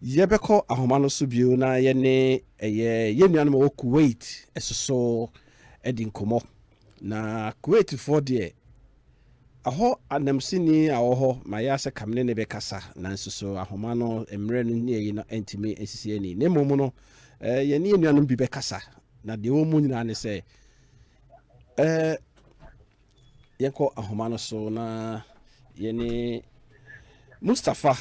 Yɛbɛkɔ ahoma no so bio na yɛne ɛyɛ yɛn nuanom a wɔwɔ Kuwait soso adi nkɔmmɔ. Na Kuwaitfoɔ deɛ, ɛhɔ anamsini a ɔwɔ hɔ ma yɛ ara sɛ ka me ne no bɛkasa, nanso so ahoma no mmerɛ no ne ayi no ntumi nsisi ani. Na mmom no, eh, yɛne yɛn nuanom bi bɛkasa, na deɛ ɛwɔ mu nyinaa ne sɛ, eh, Yɛnkɔ ahoma no so na yɛne Mustafa,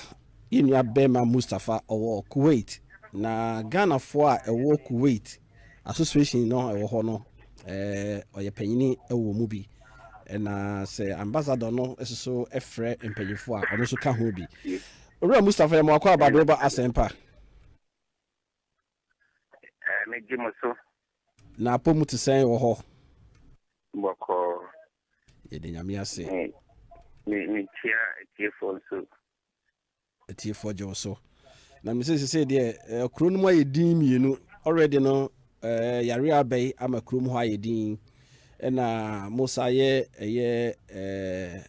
yɛn nua bɛrima Mustafa ɔwɔ Kuwait na Ghanafoɔ a ɛwɔ Kuwait association no ɛwɔ hɔ no eh, ɔyɛ panyini wɔ mu bi na sɛ ambassador no nso frɛ mpanyinfoɔ a ɔno nso ka ho bi. Owura Mustafa yɛ mo akɔ abadeɛ ba asɛmpa. Ɛɛ, megye mo so. Na apɔ mu te sɛn wɔ hɔ? Bɔkɔɔ. Yɛde Nyame ase. Me, me, mekyia atiefoɔ nso. Atiefoɔ gye wo so. Na me sɛ sesei deɛ, eh, kuro no mu ayɛ din mmienu. Already no, eh, yare abɛe ama kuro mu hɔ ayɛ din. Ɛna mo sa yɛ, ɛyɛ, eh,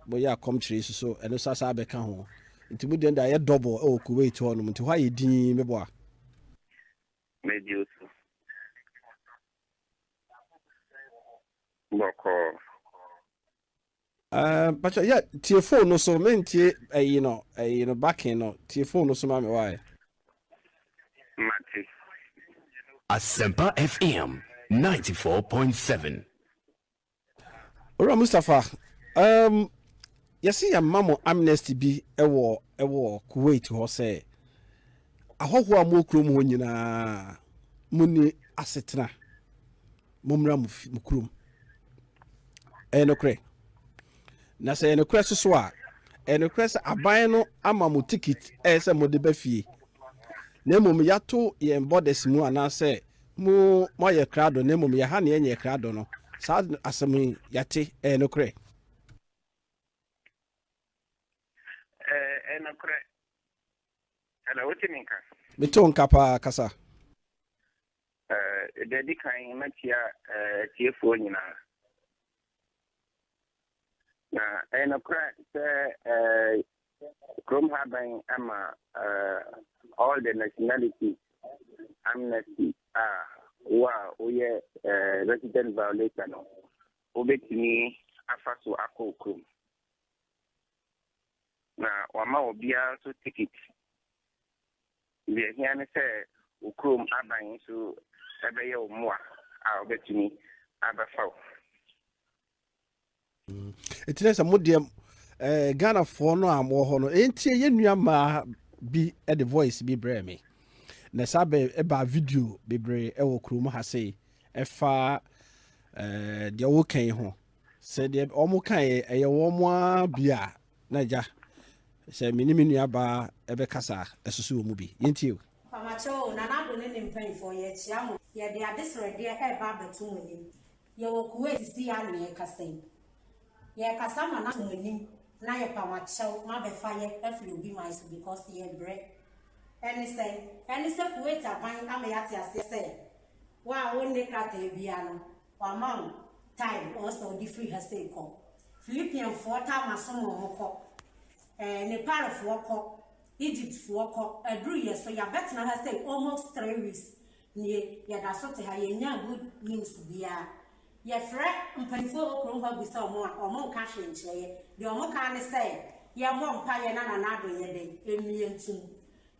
moyɛ akɔmkyerɛ yi so, ɛno sa sa abɛka ho. Nti mo deɛ no de ayɛ double ɛwɔ Kuwait hɔ nom nti hɔ ayɛ dinn me boa. Medi wo so bɔkɔɔ. Ɛɛ mpakyɛ yɛ tie phone no so me ntie ɛyi no ɛyi no backing no tie phone no so ma me wae. Mate. Asempa FM ninety four point seven. Owura Mustapha, um, yɛse yɛma mo amnesty bi wɔ wɔ Kuwait hɔ sɛ ahɔhoɔ a mowɔ kurom hɔ nyinaa monni asetena mommra mo fi mo kurom ɛyɛ nokorɛ na sɛ ɛyɛ nokorɛ so so a ɛyɛ nokorɛ sɛ aban no ama mo tikit ɛyɛ sɛ mode ba fie na mmom yɛato yɛn borders mu anaasɛ Mo, moayɛ krado, na mmom yɛn ha na yɛnyɛɛ krado no. Saa asɛm yi, yɛate, ɛyɛ nokorɛ. Ɛyɛ nokorɛ. Ɛna wote me nka? Mete wo nka paa, kasa. Deɛ ɛdi kan, mɛkyea atiefoɔ nyinaa. Na ɛyɛ nokorɛ sɛ kurom ha bɛn ama all the nationalities amnesty a wo a woyɛ resident violator no wobɛtumi afa so akɔ wo kurom. Na wama obiara nso ticket. Deɛ ɛhia ne sɛ wo kurom aban nso ɛbɛyɛ wo mmoa a wɔbɛtumi abɛfa wo. ɛti ne sɛ modeɛ eh, ghanafoɔ no a mowɔ hɔ no ɛntie yɛ nua mmaa bi de voice bi brɛ me na saa bɛ ɛbaa video bebree ɛwɔ kurom ha sei ɛfa eh, deɛ woka yi ho sɛ deɛ wɔn ka yɛ ɛyɛ wɔn a bi a na agya sɛ me ne me nua baa ɛbɛkasa a, ɛsoso wɔ mu bi yɛntie o Mpamakyɛw o, Nana Addo ne ne mpanyimfoɔ, yɛkyea mo. Yɛde adesrɛdeɛ reba abɛto mo anim. Yɛwɔ Kuwait se ya ne yɛkasa yi. Yɛkasa ma no ato mo anim na yɛpam akyɛw ma bɛfa yɛ afiri obi man so because yɛbrɛ. Ɛne sɛn? Ɛne sɛ Kuwait aban ama yɛate aseɛ sɛ wo a wonne krataa biara no wama wo time ɔɔ sɛ wode firi ha sei kɔ. Philippian foɔ taa ma som wɔn mo kɔ. Ɛɛ Nepal foɔ kɔ. Egypt foɔ kɔ. Aduru yɛ so. Yɛabɛtena ha sei almost three weeks. Ndɛ yɛda so te ha yɛnyaa good news biaa. Yɛfrɛ mpaninfoɔ wɔ kurom hɔ abisa ɔmo a, ɔmo nka hwee nkyerɛ yɛ. Deɛ ɔmo kaa ne sɛ yɛmmɔ mpaeɛ na Nana Addo nyɛ dɛn? Mmie ntom.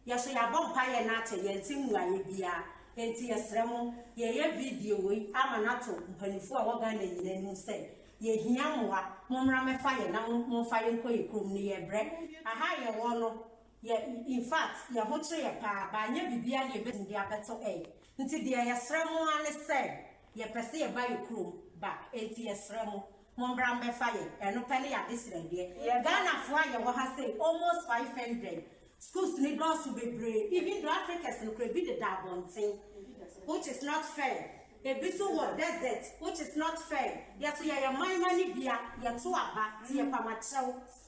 Yɛso yɛabɔ mpaeɛ na akyɛ yɛnte mmuaeɛ biaa. Enti yɛsrɛ mo, yɛɛyɛ video wei ama no ato mpaninfoɔ a wɔ Ghana nyinaa anim sɛ yɛhia mmoa, mommra mmɛfa yɛn na momfa yɛnkɔ yɛ kurom no yɛbrɛ. Aha a yɛwɔ no Yɛ in fact yɛ ho kye yɛ paa but anyɛ biribiaa deɛ yɛbɛtumi de abɛto ɛy nti deɛ yɛ srɛ mo ara ne sɛ yɛ pɛ sɛ yɛ ba yɛ kurom back ɛnti yɛ srɛ mo mo mbra mbɛ fa yɛ ɛno pɛ ne yɛ adesrɛ deɛ Ghana foɔ a yɛ wɔ ha sei almost 500 schools no dɔɔso bebree even though Africans no koraa ɛbi deda abɔnten which is not fair ɛbi so wɔ desert which is not fair yɛ so yɛ yɛ man ma ne bia yɛ to aba ti yɛ pama kyɛw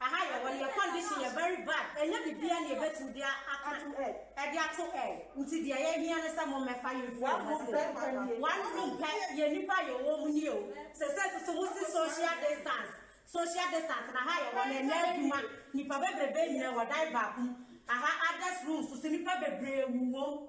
Aha yɛ hɔ yɛ condition yɛ very bad ɛnyɛ bibia na yɛbɛtumi de aka ɛde ato ɛ nti deɛ yɛhia ne sɛ mommɛfa yɛmfiri yɛn ho se one room pɛ yɛ nnipa yɛ wɔ mu nie o sɛsɛ nso so mosi social distance social distance na ha yɛ hɔ no ɛnyɛ adwuma nnipa bebrebe nyina wɔ dan baako mu aha others rooms so nnipa bebree wu wɔ mu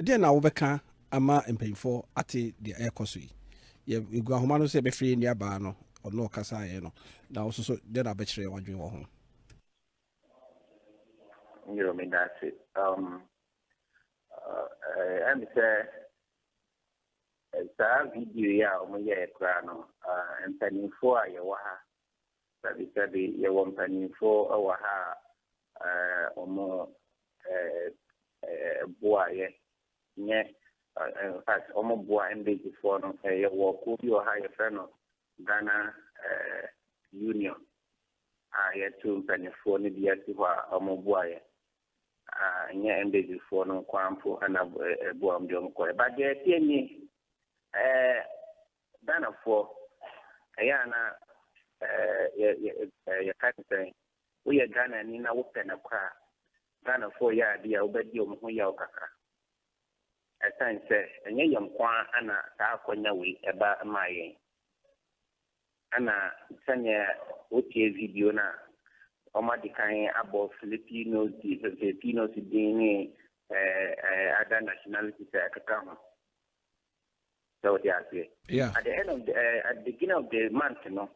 Ɛdeɛn na wobɛka ama mpanyimfoɔ ate deɛ ɛrekɔ so yi? Yɛ egu ahoma no sɛ yɛbɛfrɛ yɛn nuabaa no, ɔno ɔkasaeɛ no, na wo nso so dɛn na wobɛkyerɛ w'adwene wɔ ho? Yo, meda ase. Um, ɛyɛ me sɛ saa video yi a wɔyɛɛ koraa no, mpanimfoɔ a yɛwɔ ha Sɛbesɛbe, yɛwɔ mpanyimfo wɔ ha a wɔboa yɛn, nyɛ? In fact, wɔboa Mbagyefo no. Yɛwɔ kuw bi wɔ ha a wɔfrɛ no Ghana Union a yɛato mpanyimfo no bi asi hɔ a wɔboa yɛn. Nyɛ Mbagyefo no nko ara mpo na ɛboa wɔn de wɔn kɔ. But deɛ ɛteɛ nie, Ghanafoɔ, ɛyɛ a na yɛka te sɛ woyɛ Ghanani na wopɛ nɔkorɛ a, Ghanafoɔ yɛ adeɛ a wobɛdi wɔn ho yaw kakra. Ɛsiane sɛ ɛnyɛ yɛn nko ara na saa akwanya wei ɛba maa yɛn, ɛna sɛdeɛ wotie video no a, wɔadi kan abɔ Filipinos, Filipinos din ne other nationalities a ɛkeka ho. sɛ wote aseɛ Yeah. at the end of the, eh, at the beginning of the month no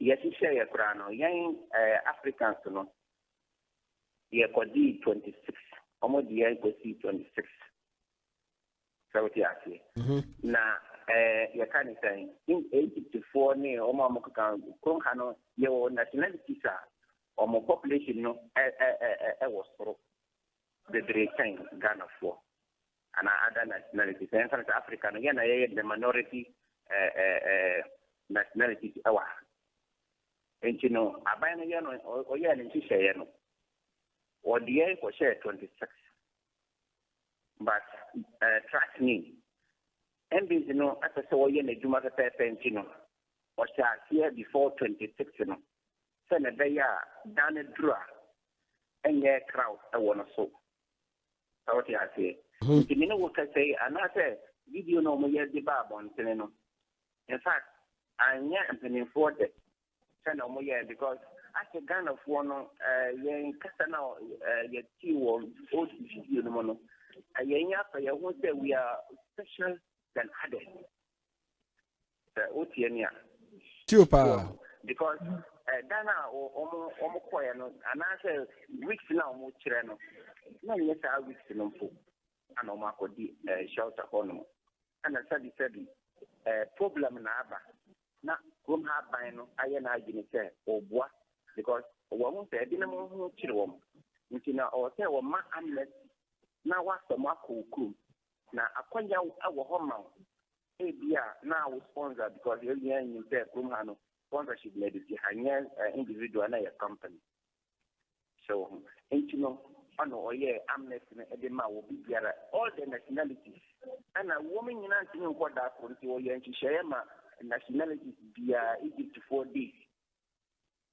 yɛhyehyɛ yɛ koraa no yɛn eh, africans no yɛkɔdii 26 wɔn de yɛn kɔsii 26 sɛ wote aseɛ na eh, yɛka ne sɛn in egyptfoɔ ne wɔn a wɔkeka kurom ha no yɛwɔ nationalities a wɔn population no ɛ- ɛ- ɛ- ɛ- ɛwɔ soro bebree kyɛn ghanafoɔ anaa other nationalities na yɛnka no sɛ Africa no yɛn na yɛyɛ the minority nationalities wɔ ha nti no aban no yɛ no ɔyɛɛ ne nhyehyɛeɛ no ɔdeɛ kɔhyɛɛ 26 but uh, trust me mbs no apɛ sɛ ɔyɛ n'adwuma pɛpɛɛpɛ nti no ɔhyɛ aseɛ before 26 no sɛ na ɛbɛyɛ a dan no duru a ɛnyɛ crowd ɛwɔ no so Sɛ wote aseɛ. Nti me ne wo kasa yi anaasɛ video no a wɔyɛ de ba abɔntene no, in fact anyɛ mpanimfoɔ dɛ sɛnea wɔyɛɛ because asɛ Ghanafoɔ no yɛn kasa no a yɛtee wɔ old video no mu no, yɛn afa yɛn ho sɛ we are special than others. Sɛ wotie me a. Tio paa. Because eh, dan a wɔn kɔɛ no anaasɛ weeks na wɔn kyerɛ no na nyɛ saa weeks no mpo ana wɔn akɔdi eh, shelter hɔ nom ɛna sɛbisɛbi eh, problem na aba na kurom ha aban no ayɛ n'adwene sɛ ɔboa because wɔn ho sɛ ebinom ho kyerɛ wɔn nti na ɔwɔ sɛ wɔn ma amnesty na wɔasɛm akɔ kurom Na akwanya wɔ hɔ ma wo ebia na wo sponsor because yɛ nyinaa nim sɛ kurom ha no sponsorship na ɛde si ha nyɛ individual na yɛ company hyɛ wo ho nti no ɔno ɔyɛ amnesty no ɛde ma wɔ bibiara all the nationalities ɛna wɔn nyinaa ntumi nkɔ da koro nti wɔyɛ nhyehyɛeɛ ma nationalities biara Egyptfoɔ days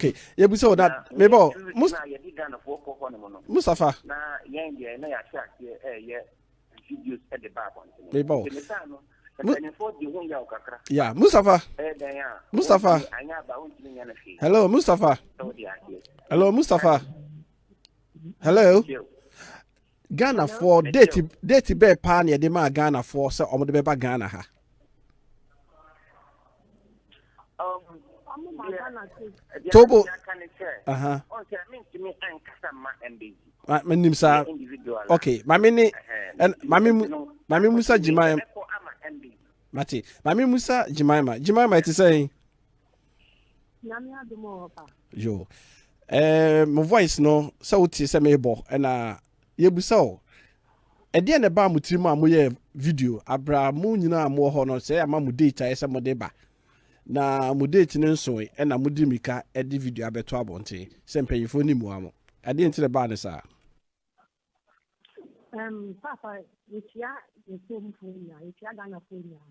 ok yɛbisa wo that mebɔ mustafa mebɔ ya mustafa mustafa hello mustafa hello mustafa hello Ghanafoɔ date date bɛɛ paa na yɛde maa Ghanafoɔ sɛ wɔn de bɛba Ghana ha. Togo. Menim saa. Okay, maame ne maame maame Musa Jimaima. Mate, maame Musa Jimaima. Jimaima ɛte sɛ yɛn. Nyame adom o ɔpa. Yo. Eh, mo voice no sɛ wotie sɛ mebɔ ɛna yɛbusa o ɛdeɛ na ɛbaa mo tirim a moyɛ video abra mo nyina a mowɔ hɔ no sɛ ama mo date ayɛ sɛ mode ba na mo date no nsoe ɛna mode mika ɛde video abɛto abɔnten sɛ mpanyinfoɔ ni mua mo ɛdeɛ nti na ɛbaa ne saa Um, Papa, yɛtua yɛtuomfoɔ nyinaa, yɛtua Ghanafoɔ nyinaa.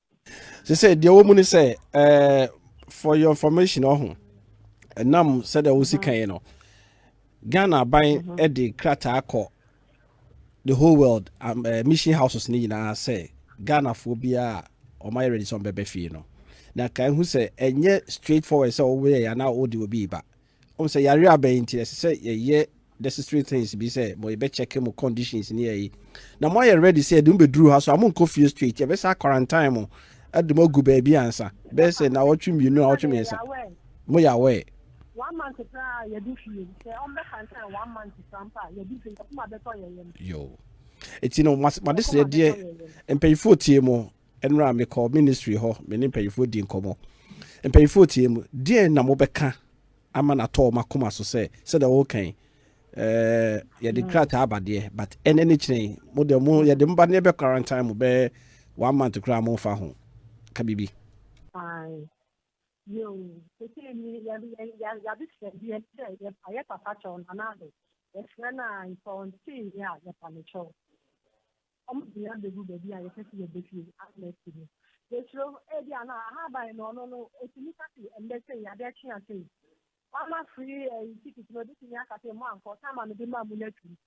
sɛ sɛ deɛ wɔ mu ne sɛ eh, for your information ɔho ɛnam sɛdeɛ wosi kan yi no ghana aban de krataa kɔ the whole world um, uh, mission houses ne nyinaa sɛ ghanafoɔ biara a wɔayɛ ready sɛ wɔbɛbɛ fie no na ka ehu sɛ ɛnyɛ straight forward sɛ wɔyɛ anaa wɔde obi ba Wohu sɛ yareɛ aba yi nti ɛsɛ sɛ yɛyɛ necessary things bi sɛ mo yɛbɛ check mo conditions ne yɛyi na mo ayɛ ready sɛ yɛde mo bɛduru ha so a mo nkɔ fie straight yɛbɛsa quarantine mo ɛde mo agu baabi ansa bɛyɛ sɛ na wɔtwe mmienu a wɔtwe mmiɛnsa mo yɛ aware one month koraa yɛde fie sɛ ɔmbɛ quarantine one month koraa mpo a yɛde fie yɛkoma bɛtɔ yɛyɛ no yo ɛti no made srɛ deɛ mpanyinfoɔ tie mo Nnora mekɔɔ ministry hɔ, me ne mpanyinfoɔ dii nkɔmmɔ. Mpanyinfoɔ tiee mu, deɛn na mobɛka ama no atɔ wɔn akoma so sɛ sɛdeɛ wɔreka yi, eh, yɛde krataa aba deɛ, but ɛnɛ ne kyerɛ yi, mo deɛ mo yɛde mo ba ne ɛbɛ quarantine mo bɛyɛ one month koraa mo nfa ho ka biribi. Aye. Yo, sese ni ya ya ya ya bi fẹ bi ẹ sẹ yẹ pa yẹ papa kyẹw nana ade yẹ fẹ na ntọ nti yẹ a yẹ pa ne kyẹw. Wɔn de yɛn abegu baabi a yɛpɛ sɛ yɛbɛpue, outlet, mu. Yɛsuro ebia na ahaban no, ɔno no, ɔtumi ka sɛ, ɛnnɛ sei, adeɛ kye a sei, wɔama free ɛyi ticket no, ɔbɛtumi aka sɛ, moankɔ, sɛ ama mede maa mo no atum.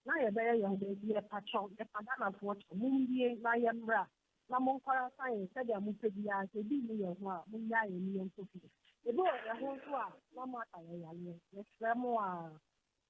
Na yɛbɛyɛ yɛn ho baabi, yɛpa kyɛw, yɛpa Ghanafoɔ kyɛw, mommue na yɛmmra, na monkɔra san yɛn sɛdeɛ mopɛ biara, sɛ ebi nni yɛn ho a, monnyaa yɛn ne yɛnkɔ fie. Ebi wɔ yɛn ho nso a, na moaka yɛn yareɛ. Yɛsrɛ mo a.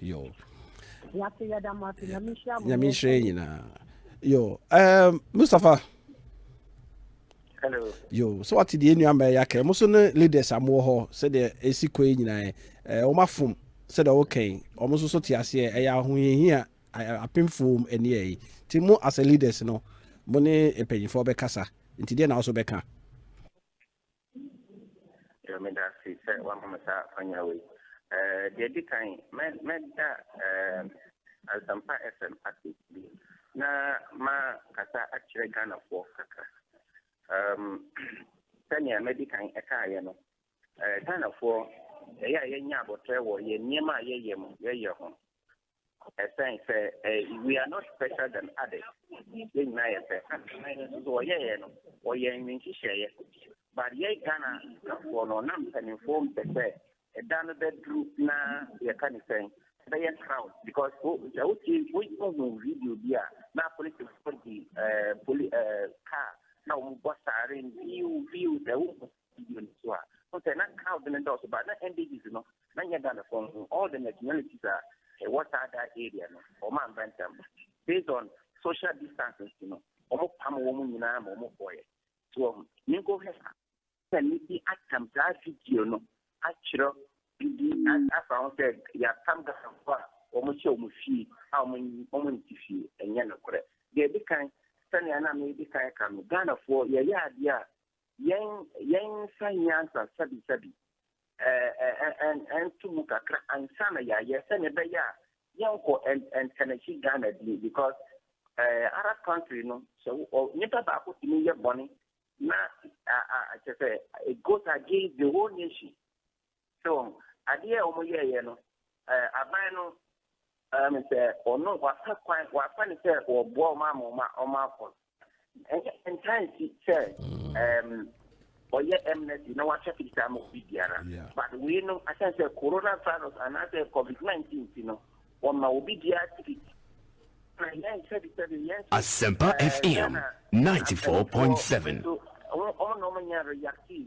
yo yɛase yɛda mo ase nyame nhyira mo nyame nhyira yɛ nyinaa yo um, mustapha Hello. yo so wate deɛ nnuama ɛyɛ akra mo so ne leaders amoɔ hɔ sɛdeɛ ɛsi kɔ yi nyinaa wɔn afom sɛdeɛ wɔkɛn wɔn nso so te aseɛ ɛyɛ ahohiahia apemfo ɛneɛ yi nti mo as a leaders no mo ne mpanyinfoɔ bɛkasa nti deɛ na wɔso bɛka Yo, meda ase sɛ wama me saa akwanya wei. Eh, deɛ di kan, mɛ mɛda eh, Asampa FM ase bi na ma kasa akyerɛ Ghanafoɔ kakra. Um, sɛnea mɛdi kan ɛkaeɛ no, eh, Ghanafoɔ ɛyɛ a yɛnya abɔtrɛ wɔ yɛn nneɛma a yɛyɛ mu yɛyɛ ho. Ɛsɛn sɛ eh, we are not special than others. Yɛn nyinaa yɛ pɛ. Akan no nso wɔyɛeɛ no, wɔyɛ nhyehyɛeɛ. But yɛn Ghana kafoɔ no, na mpanimfoɔ mpɛ sɛ ɛda no bɛduru na yɛka ne sɛn ɛbɛyɛ crowd because sɛ wotie wohu video bi a na polisifoɔ di eh, poli eh, car na wɔbɔ saaren viu viu sɛ wohu video no so a wo sɛ na crowd no dɔɔso ba na ndgs no na nyɛ da ne kɔn ho all the nationalities a ɛwɔ saa da area no wɔn amba ntam based on social distance nti no wɔn pam wɔn nyinaa ma wɔn kɔɛ so wɔn minko hɛ na ne bi atam saa video no akyerɛ bibi afa ho sɛ yɛapam gasanfo a wɔn hyɛ wɔn fie a wɔn wɔn nti fie ɛnyɛ nokorɛ deɛ ɛdi kan sɛnea na medi kan ka no ghanafoɔ yɛyɛ adeɛ a Yɛn yɛn nsa hia nsansabissabi ɛɛ ɛnto mu kakra ansa na yɛayɛ sɛnea ɛbɛyɛ a yɛnkɔ ntɛnɛkyi Ghana din because ɛɛ eh, Arab country no sɛ nipa baako tumi yɛ bɔne na kyɛ sɛ it goes against the whole nation. So wɔn adeɛ a wɔn yɛɛyɛ no ɛɛ aban no ɛɛ mi sɛ ɔno wafa kwan wafa ne sɛ wɔboa wɔn ama wɔn a wɔn akɔ no ɛnyɛ ntaa nsi sɛ ɛɛm ɔyɛ ɛmnɛsi na wahyɛ fitaa ama obi biara but wei no asan sɛ corona virus anaasɛ covid nineteen ti no wɔn ma obi biara tikiti na yɛn sɛ bi sɛ bi yɛn sɛ Asempa ɛɛ FM Ghana ninety four asɛm point seven. so wɔn wɔn na wɔn nyɛ reactive.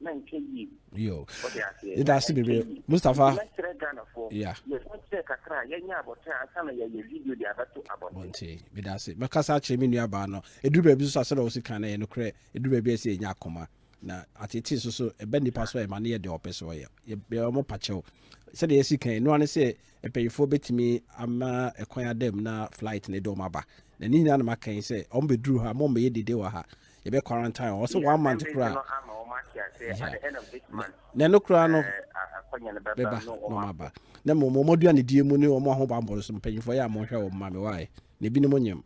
na nkyɛ yie. Yo. Ɔde aseɛ. Yɛda ase bebree. Mustafa. Yɛkyerɛ Ghanafoɔ. Yeah. Yɛsan kyerɛ kakra a yɛnyɛ abɔten ansa na yɛayɛ video de abɛto abɔnten. Abɔnten. Meda ase. Mɛkasa akyerɛ me nua baa no. Ɛduru baabi nso a sɛdeɛ ɔsi kan no ɛyɛ nokorɛ. Ɛduru baabi a ɛsɛ yɛnya akoma. Na atetee nso so ɛba nipa so a ɛma no yɛ deɛ ɔpɛ sɛ ɔyɛ. Yɛbɛ ɔmo pakyɛw. Sɛdeɛ yɛsi kan ɛno ara ne sɛ mpanimfoɔ bɛtumi ama ɛkwan ada mu na flight no de ɔmo aba. Na ne nyinaa na maka yi sɛ ɔmo bɛduru ha, mo mmɛyɛ dede wɔ ha. yɛbɛ quarantine wɔn sɛ one month koraa na ɛno koraa no bɛba na wɔn aba na mmom wɔn aduane die mu ne wɔn ahobammɔ no so mpanyinfoɔ yɛ a wɔn hwɛ wɔn ma mi waae na ebinom nyɛm.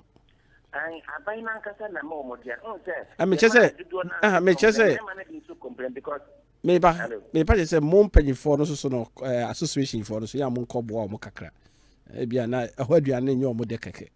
aban nankasa na ma wɔn aduane n sɛ. ɛmɛkyɛ sɛ ɛmɛkyɛ sɛ meba meba kyɛ sɛ mo mpanyinfoɔ no soso no association foɔ no so yɛ a mo nkɔ boa wɔn kakra ebi a na ɛhɔ aduane nyɛ wɔn dɛ kɛkɛ.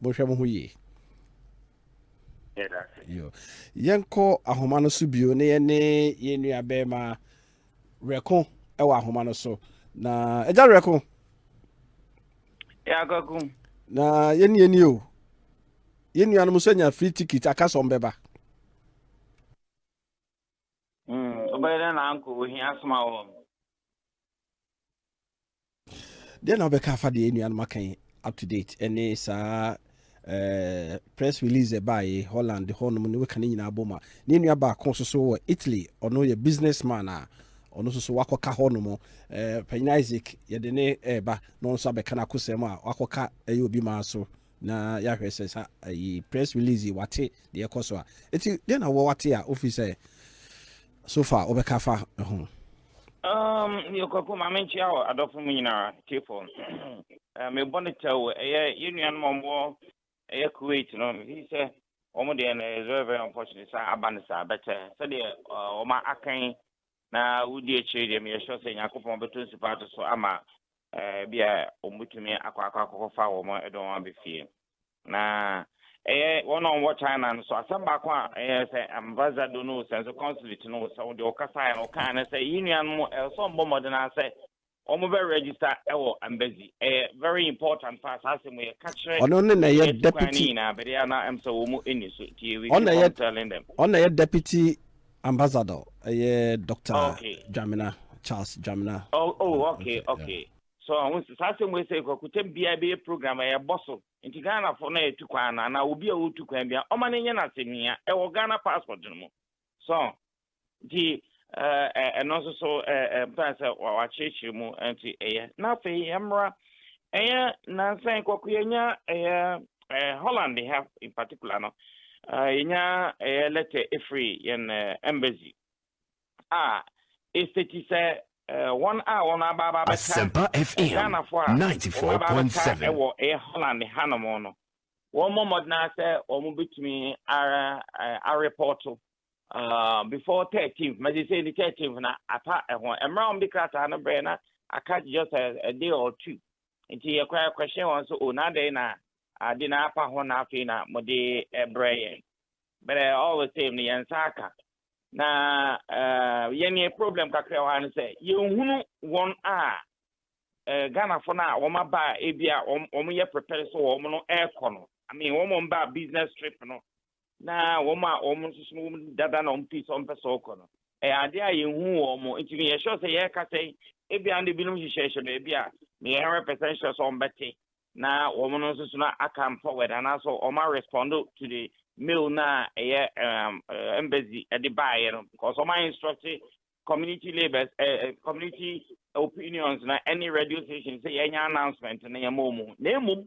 mohwɛ mo ho yie yɛnkɔ ahoma no so bio na yɛne yɛn nua bɛrima werɛko wɔ ahoma no so na agya werɛko na yɛne yɛni o yɛn nuanom nso anya free ticket aka sɛ ɔmbɛba Mm, wobɛyɛ dɛn na anko ohia asoma wɔn? Deɛ na wobɛka afa deɛ nnuanom aka yi up to date ɛne saa eh, press release ɛbaeɛ Holland hɔnom ne weka ne nyinaa bom a ne nua baako nso so wɔ Italy ɔno yɛ businessman a ɔno nso so wakɔka hɔnom eh, panyin Isaac yɛde ne ɛreba na ɔno nso abɛka no akosɛm a wakɔka ɛyɛ obi maa so na yɛahwɛ sɛ sa ayi press release yi wate deɛ ɛkɔ so a eti deɛ na wɔwate a ofi sɛ so far wɔbɛka fa ho. Um, yɛ kwaku maame nkyia wɔ adɔfo mu nyinaa tiefo eh, mebɔ no kyɛw ɛyɛ yɛ nuanom ɔmɔ ɛyɛ kuwait no mefi sɛ wɔn deɛ no is very very unfortunate sɛ aba no saa bɛkyɛ sɛdeɛ wɔn akan na wodi akyire deɛ meyɛ sure sɛ nyankopɔn bɛtɔ nsupa ato so ama Ebia wɔbɛtumi akɔ akɔ akɔfa wɔn de wɔn aba fie. Na ɛyɛ wɔn a wɔwɔ China no so asɛm baako a ɛyɛ sɛ ambassador no sɛ nso consulate no sɛ wɔde wɔkasaeɛ no wɔkaa no sɛ yɛn nuanom ɛwɔ sɛ wɔbɔ mmɔden ara sɛ wɔn bɛ register ɛwɔ embassy ɛyɛ very important paa saa asɛm yɛ ka kyerɛ ɔno ne na ɛyɛ deputy nyinaa bɛde ana ɛm sɛ wɔn mu ɛni so ti yɛ we keep on telling them ɔno na ɛyɛ deputy Ambassador ɛyɛ Doctor okay. Dwamena Charles Dwamena. Oh, oh mm, okay okay. okay. Yeah. So ahun sɛ saa asɛm wei sɛ kwakutam biara bɛyɛ program a yɛbɔ so nti Ghanafo na yɛtu kwan no anaa obi a ɔtu kwan bia ɔma no nyɛ no asɛmhia ɛwɔ Ghana passport no mu so nti eh, eh, ɛno nso so eh, mpɛn sɛ wakyerɛkyerɛ mu nti ɛyɛ na afei yɛmmra ɛyɛ nansan kɔko yɛnya ɛyɛ Eh, Holland ha in particular no, eh, yɛnya ɛyɛ eh, lɛtɛ ɛfiri yɛn eh, embassy a ɛsɛti sɛ eh, wɔn a wɔn abaaba bɛka eh, Ghanafoɔ a wɔn abaaba bɛka ɛwɔ eh, ɛyɛ Holland hanom no wɔn mmɔ mmɔden sɛ wɔn bɛtumi ara eh, arepɔto uh, before 13th mɛgye sɛ ɛni 13th na ata ɛho mmerɛ a wɔn de krataa no brɛ na aka just a, a day or two Enti yɛkɔe kɔhyɛɛ wɔn sɛ, O, na adɛn na ade no apa ho na afei na mode rebrɛ yɛn? But all the same no, yɛn nsa aka. Na eh, yɛn yɛ problem kakra wɔ ha no sɛ, yɛnhunu wɔn a eh, Ghanafo no a wɔn aba a ebi a wɔn wɔn yɛ prepare sɛ wɔn no ɛrekɔ no. I mean, wɔn a wɔn ba business trip no, na wɔn a wɔn nso so wɔn dada na wɔn pii sɛ wɔn pɛ sɛ wɔkɔ no ɛyɛ adeɛ a yɛn hu wɔn mo nti no yɛ sure sɛ yɛreka sɛ ebi a ne binom hyehyɛhyɛ no ebi a ne yɛ hundred percent sure sɛ wɔn bɛte na wɔn no nso so na come forward anaasɛ wɔn a respond to the mail na ɛyɛ um, eh, embassy ɛde baayɛ no because wɔn a instruct community labours ɛɛ eh, eh, community opinions na ɛne radio station sɛ yɛn nyɛ announcement na yɛn mo mu na emu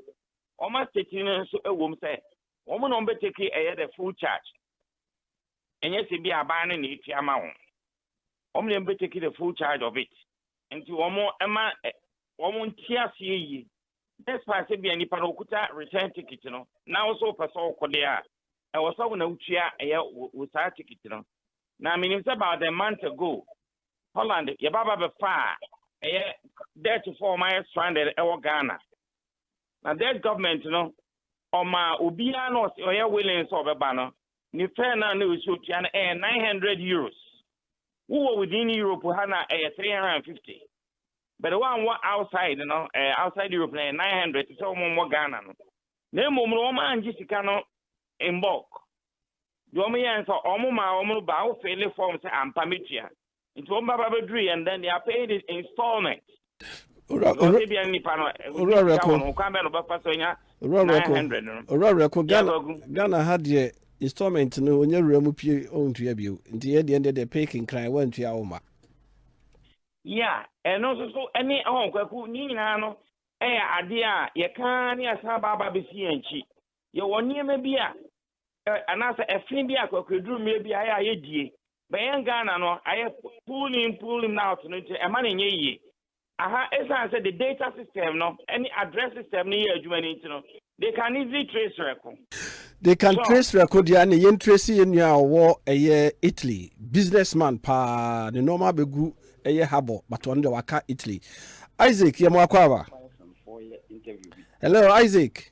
wɔn asɛti no nso ɛwɔ mu sɛ. Wɔn na wɔbɛtake ɛyɛ the full charge. Ɛnyɛ sɛ bi aban no na ɛtua ma wɔn. Wɔn na wɔbɛtake the full charge of it. Nti wɔn ɛma wɔn nte aseɛ yie. Despite sɛ bi a nipa no ɔkuta return ticket no, na wo sɛ wopɛ sɛ wokɔ deɛ a, ɛwɔ sɛ wo na wotua ɛyɛ wo saa ticket no. Na menim sɛ about a month ago, Holland yɛba ba bɛfaa ɛyɛ Dutchfoɔ a wɔayɛ stranded ɛwɔ Ghana. Na Dutch government no ɔmaa obiara na ɔse ɔyɛ willing sɛ ɔbɛba no ne fare no a na ɛwɔ sɛ otua no ɛyɛ 900 euros. Wowɔ within Europe ha no a ɛyɛ 350 but woanwɔ outside no ɛɛ outside Europe no ɛyɛ 900 te sɛ wɔn mmɔ Ghana no. Na mmom no wɔn angye sika no in bulk. Deɛ wɔn yɛɛ no sɛ wɔn maa wɔn no baa wo fele fɔm sɛ ampa me tua nti wɔn ba ba bɛ duru yɛn dan they are paying it installment. Because ebi a nipa no owura wɔn ho kwan bɛ no bɛfa so nya nine hundred no. Owura wura ko Ghana Ghana ha deɛ installment no onye wura mu pie ɔntua bio nti yɛ deɛ deɛ pay kinkran wɔntua wɔn ma. Yeah, ɛno nso so ɛne ɛhɔn kwaku ne nyinaa no ɛyɛ adeɛ a yɛka ne asan baaba bɛsi yɛn akyi yɛwɔ nneɛma bi a anaasɛ ɛfin bi a kwakuaduru mmea bi ayɛ a yɛ die bɛyɛ Ghana no ayɛ pull in pull in out no nti ɛma no nyɛ yie. Aha ɛsiane sɛ the data system no ne address system no yɛ adwuma no nti no they can easily trace rɛko. They can trace rɛko deɛ ɛne yɛn trace yɛn nua a ɔwɔ ɛyɛ Italy business man paa ne nneɛma abɛgu ɛyɛ habɔ but ɔno deɛ waka Italy. Isaac yɛ mo akɔ aba. Hello Isaac.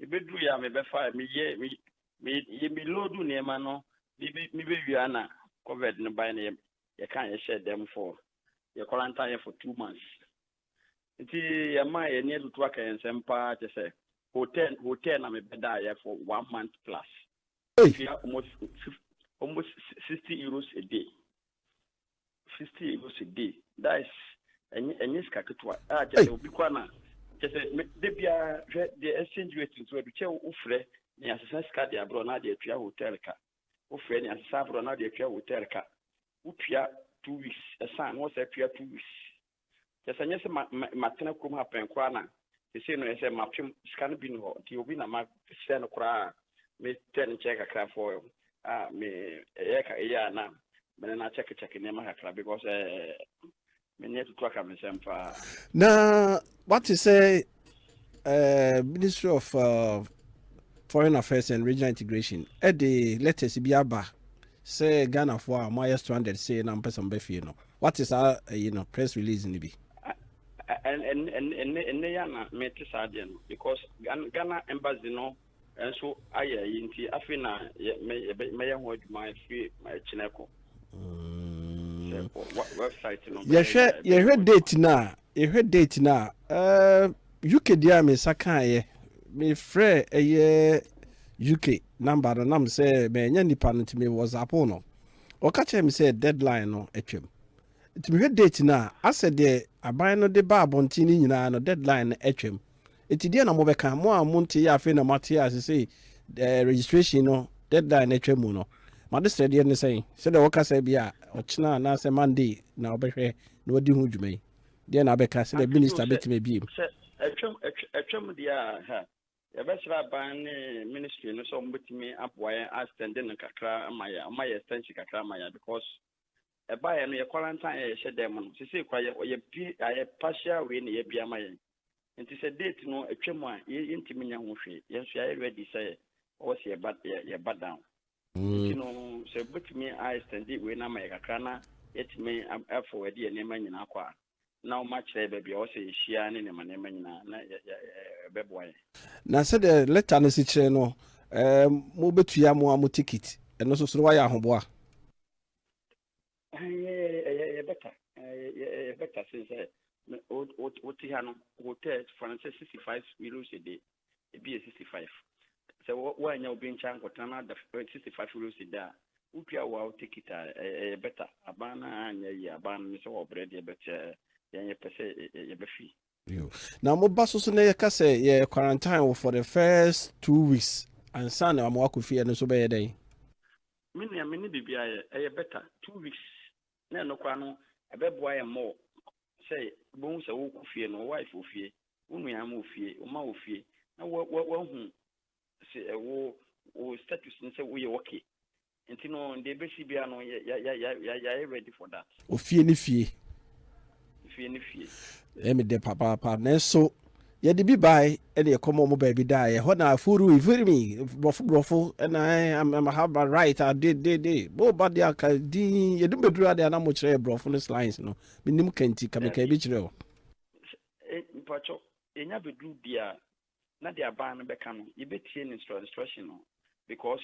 Mebɛduruiɛ a mebɛfaɛ meyɛ me me yɛ me loadu nneɛma no mebɛ mebɛwie a na covid no baeɛ na yɛ yɛkaa yɛhyɛɛ dɛm for yɛ kɔrantaeɛ for two months nti yɛmaa yɛni atutu aka yɛn nsɛm paa kyɛ sɛ hotel hotel na mebɛdaeɛ for one month plus Ei! metua almost fif almost sixty euros a day sixty euros a day that is ɛnyɛ ɛnyɛ sika ketewa a kyɛ sɛ obi kɔ ana kyɛ sɛ me de bia hwɛ deɛ exchange rate nso ɛdu kyɛ wofrɛ ne asesa sika de aborɔ na de atua hotel ka wofrɛ ne asesa aborɔ na de atua hotel ka wotua two weeks ɛsan na wɔsɛ atua two weeks Kyerɛ sɛ ɛnyɛ sɛ ma ma matena kurom ha pɛn koraa na sesei no ɛyɛ sɛ mapem sika no bi ni hɔ nti obi na masrɛ no koraa a mekyɛ ne nkyɛn kakra for a me ɛyɛ ka ɛyɛ a na me ne no akyɛkekyɛke nneɛma kakra because ɛɛ me ne atutu aka me nsɛm paa. Na wate sɛ uh, Ministry of uh, Foreign Affairs and Regional Integration ɛde letters bi aba sɛ Ghanafoɔ a wɔayɛ stranded sei na mpɛ sɛ wɔbɛ fie no wate saa ɛyi no press release no bi ɛnɛ yɛ na mete saa deɛ no because Ghana embassy no nso ayɛ ayi nti afei na mɛyɛ ho adwuma afiri kyinɛ kɔ mm. website no yɛhwɛ yɛhwɛ date no a yɛhwɛ date no a eh, uk deɛ a me nsa kaeɛ mefrɛ ɛyɛ uk number no nam sɛ mɛnyɛ nipa no nti me whatsapp no ɔka kyerɛ me sɛ deadline no atwam nti mehwɛ date no a asɛ deɛ aban no de ba abɔnten no nyinaa no deadline no atwam Enti deɛ na mobɛka, mo a monteeɛ a afei na moate a seesei eh, registration no deadline no atwa mu no? M'adesrɛdeɛ ne sɛn? Sɛdeɛ wɔka sɛ ebia ɔkyena anaasɛ Monday na wɔbɛhwɛ na wɔadi ho dwuma yi, deɛ na abɛka sɛdeɛ Agye tom minister sɛ, bɛtumi abiem? sɛ ɛtwam ɛtw- ɛtwam deɛ a, ha, yɛbɛsrɛ aban ne ministry no sɛ wɔbɛtumi aboa yɛn astɛnde no kakra ama yɛn, wɔma yɛ extension kakra ama yɛn because ɛbaeɛ no yɛ quarantine a yɛhyɛ dɛm no, sesei kora yɛ, yɛbie ayɛ partial wei na yɛabie ama yɛn. Nti sɛ date no atwa mu a yɛntumi nyɛ ho hwee. Yɛn nso yɛayɛ ready sɛ ɔwɔ sɛ yɛba yɛba down. Nti no sɛ wobɛtumi a extend wei no ama yɛ kakra na yɛatumi afɔ adi yɛn nneɛma nyinaa kɔ a na wɔakyerɛ yɛ baabi a ɔwɔ sɛ yɛhyia ne nneɛma nneɛma nyinaa na ɛbɛboa yɛn. Na sɛdeɛ letter no si kyerɛ no mobɛtua mo ara mo ticket, ɛno nso so no woayɛ ahoboa? ɛyɛ bɛta ɛyɛ bɛta sen sɛ wote ha no hotel fansɛ sixty five euros a day ebi yɛ sixty five sɛ woanya obi nkyɛn nkɔtena no ada sixty five euros a day a wotua wo a wote kita ɛyɛ bɛta aban no anyɛ yie aban no ne sɛ wɔbrɛ deɛ bɛkyɛ yɛnyɛ pɛ sɛ yɛbɛfi Na mo ba so so na yɛka sɛ yɛ quarantine wo for the first two weeks ansa na ama wakɔ fie ɛno nso bɛyɛ dɛn? Me nua me ne biribi ayɛ ɛyɛ better two weeks na ɛno koraa no ɛbɛboa yɛn more sɛ wobɛhu sɛ wokɔ fie no wo wife wɔ fie wo nua mo wɔ fie wo mma wɔ fie na wahu sɛ ɛwo wo status ne sɛ woyɛ ok nti no deɛ ɛbɛsi bia no yɛayɛ ready for that ofie ne fie fie ne fie ɛmi dɛ papaapa nanso yɛde bi bae ɛne ɛkɔma ɔmo baabi da ɛhɔ na afuru ifirimi borɔfo borɔfo ɛna ɛmahaba right adedede boba de aka din yɛdum bɛduru ade ana mo kyerɛ borɔfo no slines no menim kanti kameka bi kyerɛ o mpakyɛ ɛnya bɛduru bia na deɛ aban no bɛka no yɛbɛtie ne instruction no because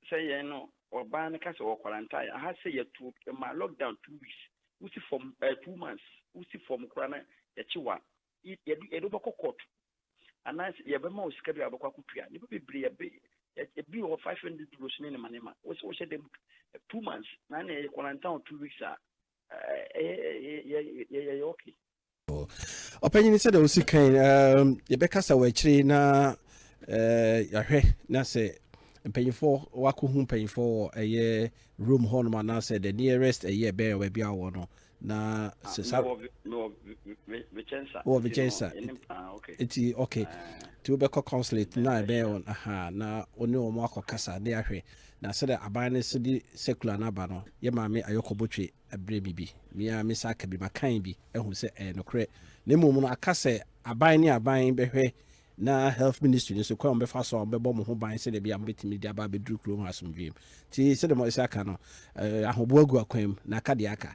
sɛ yɛn no ɔban no ka sɛ wɔ quarantine aha sɛ yɛtu ma lockdown two weeks wosi fam ɛɛ eh, two months wosi fam koraa na yɛkye wa yɛde yɛde wobɛkɔ court anaasɛ yɛbɛma wo sika bi a wobɛkɔ akɔtua nnipa bebree yɛbɛ ebi wɔ five hundred euros ne ne ma ne ma wosɛ wohyɛ dɛm two months na na yɛyɛ quarantine two weeks a ɛyɛ yɛyɛ yɛyɛ okay Ɔpanyin, sɛdeɛ wosi kan no, yɛbɛkasa wɔ akyire yi na yɛahwɛ na sɛ mpanyinfoɔ wakɔhu mpanyinfoɔ wɔ ɛyɛ room hɔnom anaasɛ the nearest ɛyɛ bɛn wɔ baabi a wɔwɔ no na ah, sɛ saa wɔ Vicenza ah, nti ok ah. nti wobɛkɔ consulate na ɛbɛn wɔn aha na wo ne wɔn akɔkasa ne ahwɛ na sɛdeɛ aban no so de circular no aba no yɛ maame ayɔkɔbɔtwe Bere bi bi, me ara mesa ka bi ma kan bi ahu sɛ ɛyɛ nokorɛ. Na mmom no, aka sɛ aban ne aban bɛhwɛ na Health Ministry no nso, kwan a wɔbɛfa so a wɔbɛbɔ mo ho ban sɛdeɛ ɛbɛyɛ a mobɛtumi de aba abɛduru kuro mu hɔ asomdwoeɛ mu. Nti sɛdeɛ moasi aka no, eh, ahoboa gu akwan mu, na aka deɛ aka.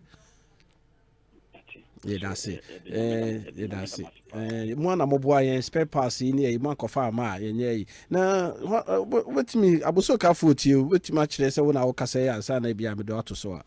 Yɛda ase. Eh, yɛda ase. Eh, mo a na moboa yɛn spare parts yi ne ayi mo ankɔfa ama a yɛnyɛ yi. Na wobɛtumi, abosokafo tie, wobɛtumi akyerɛ sɛ wo na wokasa yi ansa na ebi a mede ato so a.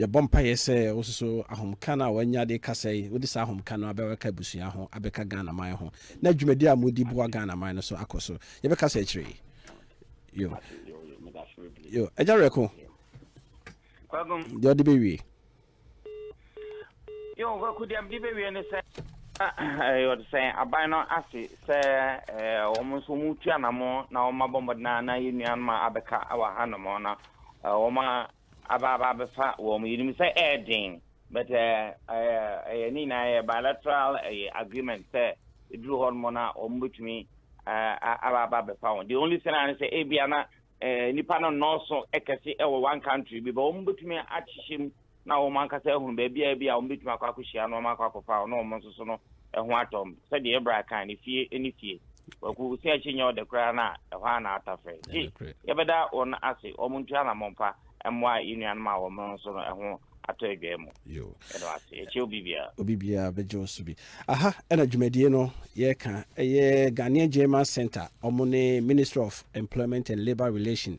Yɛbɔ mpaeɛ sɛ wo nso so ahomka no a w'anya de rekasa yi, wode saa ahomka no abɛka abusua ho, abɛka Ghana man ho, na dwumadi a modi boa Ghana man no so akɔ so. Yɛbɛkasa akyire yi. Yo. Yo. Agya Werɛko, deɛ ɔde bɛwie. Yo, Kwaku deɛ mede bɛwie ne sɛ yɛde sɛ aban no ase sɛ wɔn nso wɔn tu anamɔ na wɔn abɔ mmɔden na yɛ nuanom a abɛka wɔ ha nom na wɔn aba aba abɛfa wɔn yɛnim sɛ ɛyɛ den but ɛyɛ ne nyinaa yɛ bilateral ɛyɛ agreement sɛ ɛduru hɔ nom na wɔn bɛtumi aba aba abɛfa wɔn the only thing a ne sɛ ebia na nipa no nnɔɔso kɛse ɛwɔ one country bi but wɔn bɛtumi ahyehyɛ mu na wɔn ankasa ahunu baabiara bi a wɔbɛtumi akɔ akɔhyia nneɛma akɔ akɔfa a na wɔn nso so no ho atɔ wɔn sɛdeɛ ɛbra kan no fie ne fie waku sɛ akyi nyɛ ɔde koraa no a ɛhɔ a na ata frɛ gye yɛbɛda wɔn ase wɔn ntu anammɔn pa mmoa yɛ nuanom a wɔn nso no ɛho atɔ adwa mu ɛno ase ɛkyɛ obi biara obi biara bɛgye wo so bi aha ɛna dwumadie no yɛka ɛyɛ Ghanaian German Center wɔn ne Ministry of Employment and Labour Relation